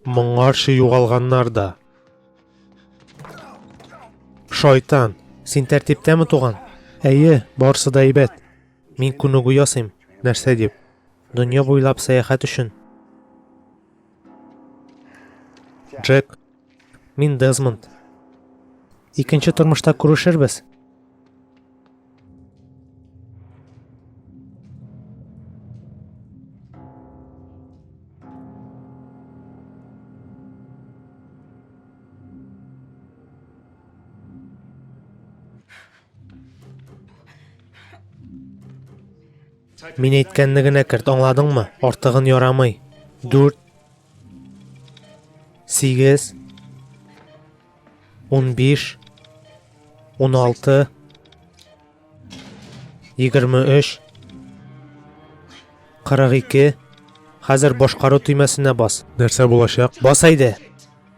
Моңарчы югалганнар да. Шайтан, син тәртиптәме туган? Әйе, барсы да әйбәт. Мин күнегү ясыйм. Нәрсә дип? Дөнья буйлап сәяхәт өчен. Джек, Мин Дезмонд. Икенче тормышта күрешербез. Мин әйткәнне генә керт, аңладыңмы? Артыгын ярамый. Дүрт Сигез. Ун биш. Ун алты. Егерме өч. Кырык ике. Хәзер башкару төймәсенә бас. Нәрсә булачак? Бас әйдә.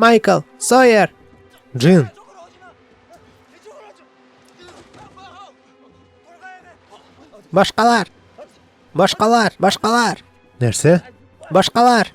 Майкл! Сойер! Джин! Башкалар! Башкалар! Башкалар! Нәрсә? Башкалар!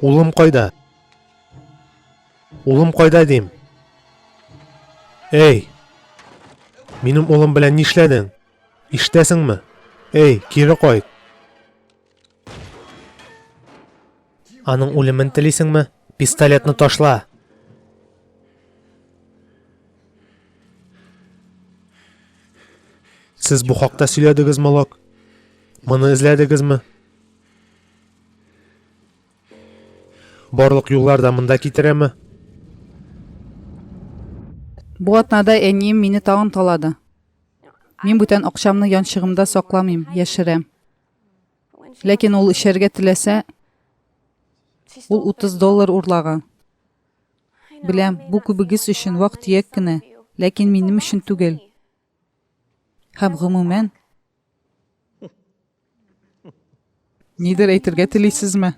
Улым кайда? Улым кайда дим? Эй! Минем улым белән нишләдең? Иштәсеңме? Эй, кире кайт! Аның үлемен телисеңме? Пистолетны ташла! Сез бу хакта сөйләдегез, Малок? Моны эзләдегезме? Барлык юллар да монда китерәме? Бу атнада әнием мине тагын талады. Мин бүтән акчамны янчыгымда сакламыйм, яшерәм. Ләкин ул эчәргә теләсә, ул 30 доллар урлаган. Беләм, бу күбегез өчен вак-төяк кенә, ләкин минем өчен түгел. Һәм гомумән, нидер әйтергә телисезме?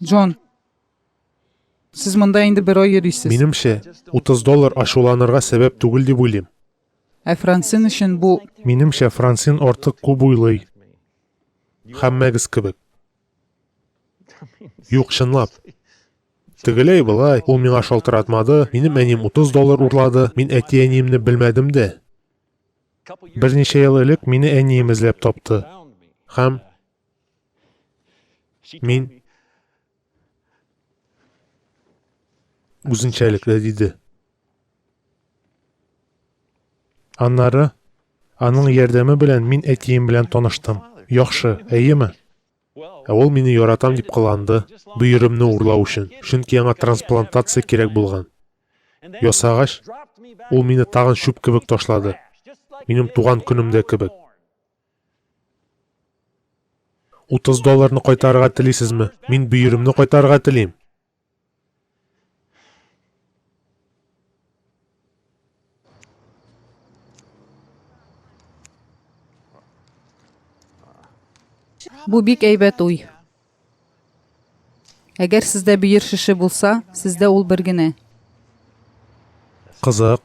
Джон, сез монда инде бер ай йөрисез. Минемчә, 30 доллар ачуланырга сәбәп түгел дип уйлыйм. Ә Франсин өчен бу... Минемчә, Франсин артык күп уйлый. Һәммәгез кебек. Юк, чынлап. Тегеләй былай, ул миңа шалтыратмады, минем әним 30 доллар урлады, мин әти-әниемне белмәдем дә. Берничә ел элек мине әнием эзләп тапты. Һәм мин үзенчәлекле диде. Аннары аның ярдәме белән мин әтием белән таныштым. Яхшы, әйеме? Ә ул мине яратам дип кыланды, бөеремне урлау өчен, чөнки аңа трансплантация кирәк булган. Ясагач, ул мине тагын чүп кебек ташлады, минем туган көнемдә кебек. 30 долларны кайтарырга телисезме? Мин бөеремне кайтарырга телим. Бу бик әйбәт уй. Әгәр сездә бөер шеше булса, сездә ул бер генә. Кызык.